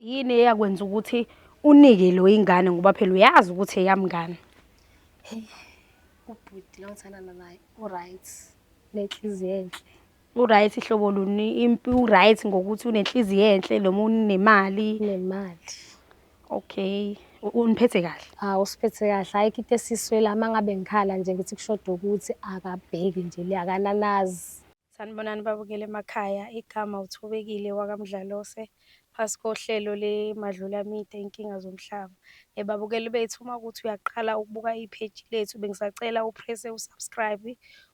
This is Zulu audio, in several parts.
Yini eyakwenza ukuthi unike lo ingane ngoba phela uyazi ukuthi eyamngane. Hey, ubhuti la ngithandana naye uright nenhliziyo enhle. Uright ihlobo luni impi uright ngokuthi unenhliziyo enhle noma unemali. Nemali. Okay. U- Uniphethe kahle. Hawu usiphethe kahle hayi kho into esiswela uma ngabe ngikhala nje ngithi kushoda ukuthi akabheki nje le akananazi. Sanibonani babukeli emakhaya, igama uThobekile wakaMdlalose phasi kohlelo leMadlulamide Inkinga Zomhlaba. Eh, babukeli bethu uma ukuthi uyaqala ukubuka ipheji lethu bengisacela uprese usubscribe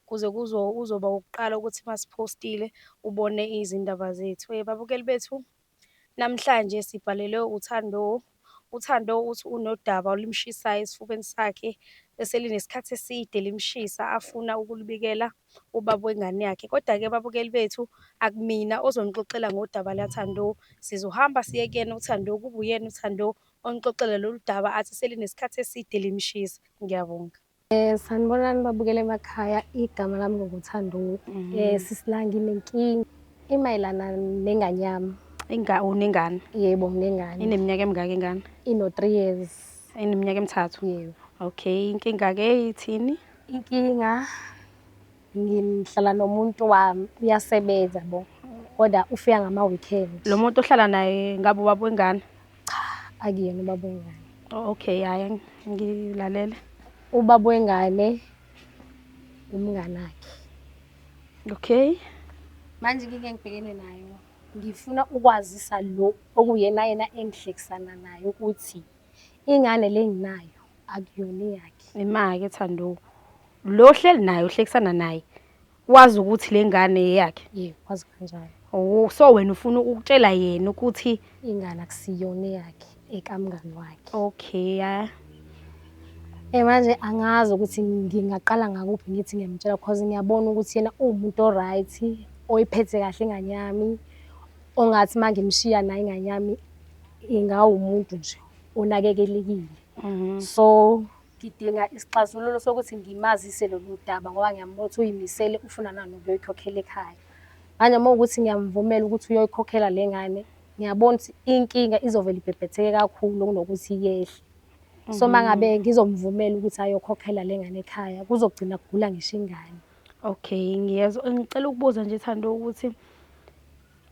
kuze kuzo uzoba wokuqala ukuthi masiphostile ubone izindaba zethu. Eh, babukeli bethu Namhlanje sibhalele uThandoh. UThandoh uthi unodaba olumshisayo esifubeni sakhe eselinesikhathi eside limshisa afuna ukulubikela ubaba wengane yakhe. Kodwa-ke babukeli bethu akumina ozonixoxela ngodaba laThandoh. Sizohamba siye kuyena uThandoh kube uyena uThandoh onixoxela lolu daba athi selinesikhathi eside limshisa. Ngiyabonga. Eh sanibonani babukele emakhaya igama lami ngokuthanduwe. Mhm. Eh sisilangi nenkingi imayelana nengane yami. Inga unengane. Yebo nginengane. Ineminyaka emingaka ingane? Ino 3 years. Ineminyaka emithathu. Yebo. Okay inkinga ke ithini? Inkinga Ngihlala nomuntu wami uyasebenza bo kodwa ufika ngama-weekend. Lo muntu ohlala naye ngabe ubaba wengane? Cha, akuyena ubaba wengane. Oh, okay, hhayi ngilalele. Ubaba wengane umngane wakhe. Okay. Manje ngike ngibhekene nayo. Ngifuna ukwazisa lo okuyena yena engihlekisana naye ukuthi ingane le nginayo akuyona eyakhe. Imake Thanduko. lo ohleli naye uhlekisana naye wazi ukuthi le ngane yeyakhe Yebo, wazi kanjalo. Oh, so wena ufuna ukutshela yena ukuthi Ingane akusiyona eyakhe, ekamngani wakhe. okay ah, Eh manje angazi ukuthi ngingaqala ngakuphi ngithi ngiyamtshela because ngiyabona ukuthi yena uwumuntu oright, oyiphethe kahle ingane yami, ongathi uma ngimshiya naye ingane yami ingawumuntu nje onakekelekile. mhm. So Ngidinga isixazululo sokuthi ngimazise lolu daba ngoba ngiyambona ukuthi uyimisele ufuna nani ukuyoyikhokhela ekhaya. Manje uma ukuthi ngiyamvumela ukuthi uyoyikhokhela le ngane, ngiyabona ukuthi inkinga izovele ibhebhetheke kakhulu kunokuthi yehle. So uma ngabe mhm. ngizomvumela ukuthi ayokhokhela le ngane ekhaya, kuzogcina kugula ngisho ingane. Okay, ngiyezwa. Ngicela ukubuza nje Thando ukuthi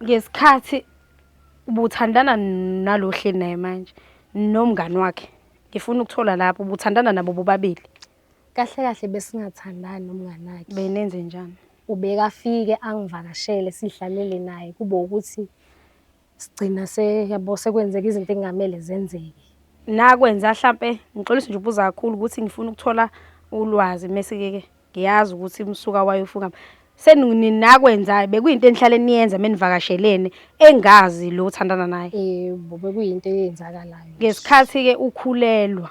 ngesikhathi ubuthandana nalo hleli naye manje nomngani wakhe Ngifuna ukuthola lapho ubuthandana nabo bobabili. Kahle kahle besingathandani nomngane wakhe. Benenze njani? Ubekafike angivakashele sidlalele naye kube ukuthi sigcina se yabo sekwenzeka izinto ekungamele zenzeke. Nakwenza hlampe ngixolisa nje ukubuza kakhulu ukuthi ngifuna ukuthola ulwazi mese ke Ngiyazi ukuthi umsuka wayofunga seninakwenzayo bekuyinto enihlale niyenza menivakashelene engazi lo uthandana naye yebo bekuyinto eyenzakalayo ngesikhathi ke ukhulelwa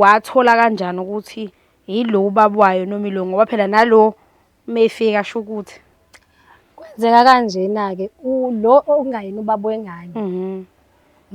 wathola kanjani ukuthi yilo ubaba wayo noma ilo ngoba phela nalo mefika asho ukuthi kwenzeka kanjena ke lo okungayena ubaba wengane mhm.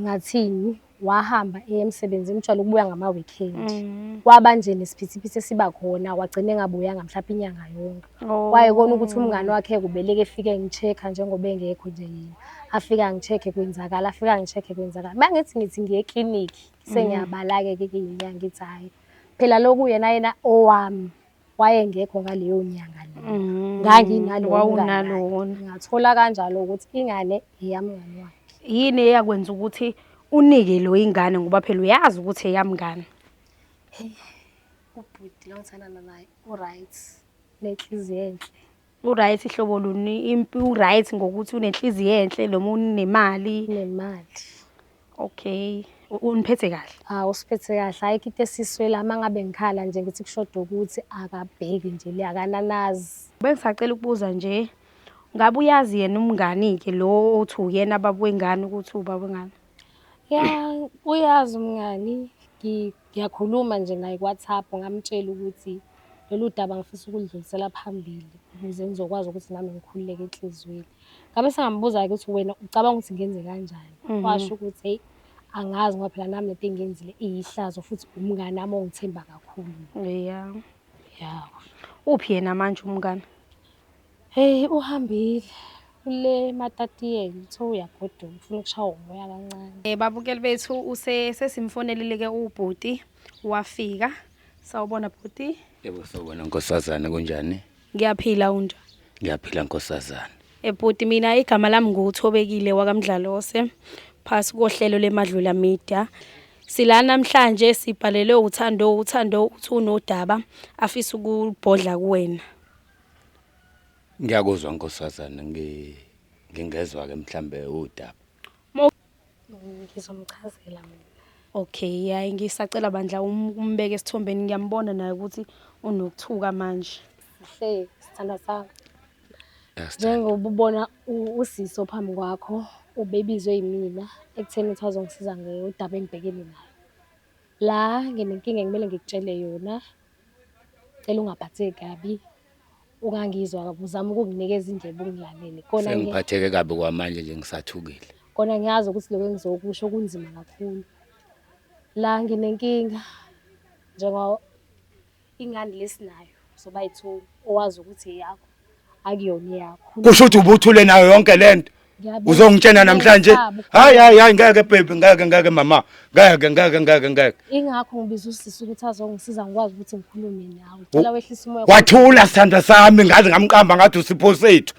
ngathini wahamba eya emsebenzini ujwayele ukubuya ngama-weekend mm. kwaba nje nesiphithiphithi esiba khona wagcina engabuyanga mhlawumbe inyanga yonke oh. kwaye kona ukuthi umngane wakhe kubeleke efike ngi-check-a njengoba engekho nje yena afike angi-check-e kwenzakala afike angi-check-e kwenzakala uma ngithi ngithi ngiye eklinikhi mm. sengiyabala-ke ke ke ngithi hhayi phela lokhu yena yena owami wayengekho ngaleyo nyanga le mm-hmm. nganginalowona ngathola kanjalo ukuthi ingane eyamngane wakhe yini eyakwenza ukuthi unike lo ingane ngoba phela uyazi ukuthi eyamngane ubhuti longithandana naye uright nenhliziyo enhle Uright hlobo luni impi uright ngokuthi unenhliziyo enhle noma unemali nemali okay u- uniphethe kahle hawu usiphethe kahle hhayi kho into esiswela uma ngabe ngikhala nje ngithi kushoda ukuthi akabheki nje le akananazi bengisacela ukubuza nje ngabe uyazi yena umngani-ke lo othi uyena baba wengane ukuthi ubaba wengane ya uyazi umngani ngi- Ngiyakhuluma nje naye kuWhatsApp ngamtshela ukuthi lolu daba ngifisa ukulidlulisela phambili ukuze ngizokwazi ukuthi nami ngikhululeke enhliziyweni. Ngabe sengambuza-ke ukuthi wena ucabanga ukuthi ngenze kanjani? Mhm. Washo ukuthi heyi angazi ngoba phela nami lento engiyenzile iyihlazo futhi umngani wami ongithemba kakhulu. Yeah. Yeah. Uphi yena manje umngani? Heyi uhambile ule matatiyeni uthe uyagoduka ufuna ukushaya umoya kancane um babukeli bethu use sesimfonelile-ke ubhuti wafika sawubona bhuti yebo sawubona nkosazane kunjani ngiyaphila unjani ngiyaphila nkosazane ebhuti mina igama lami nguthobekile wakamdlalose phasi kohlelo lemadlula media sila namhlanje sibhalelwe uthando uthando uthi unodaba afisa ukubhodla kuwena Ngiyakuzwa nkosazana ngi ngingezwa ke mhlambe udaba. Ngizomchazela mina. Okay, hayi ngisacela bandla um- umbeke esithombeni ngiyambona naye ukuthi unokuthuka manje. Sihle sithandwa sami. Yasithanda. Njengoba ubona u- usisi ophambi kwakho ubebizwe yimina ekutheni ukuthi azongisiza ngodaba engibhekene nayo. La nginenkinga ekumele ngikutshele yona Cela ungaphatheki kabi. Ungangizwa kabi uzama ukunginikeza indlebe ungilalele. Kona sengiphatheke kabi kwamanje nje ngisathukile. Kona ngiyazi ukuthi lokho engizokusho kunzima kakhulu. La nginenkinga njengoba ingane lesinayo soba yithu owazi ukuthi eyakho. akuyona eyakho kusho ukuthi ubuthule nayo yonke lento uzongitshena namhlanje hayi hayi hayi ngeke baby ngeke ngeke mama ngeke ngeke ngeke ngeke ingakho ngibiza usisi ukuthi azongisiza ngikwazi ukuthi ngikhulume nawe cela wehlisa umoya wathula sithanda sami ngaze ngamqamba ngathi usipho sethu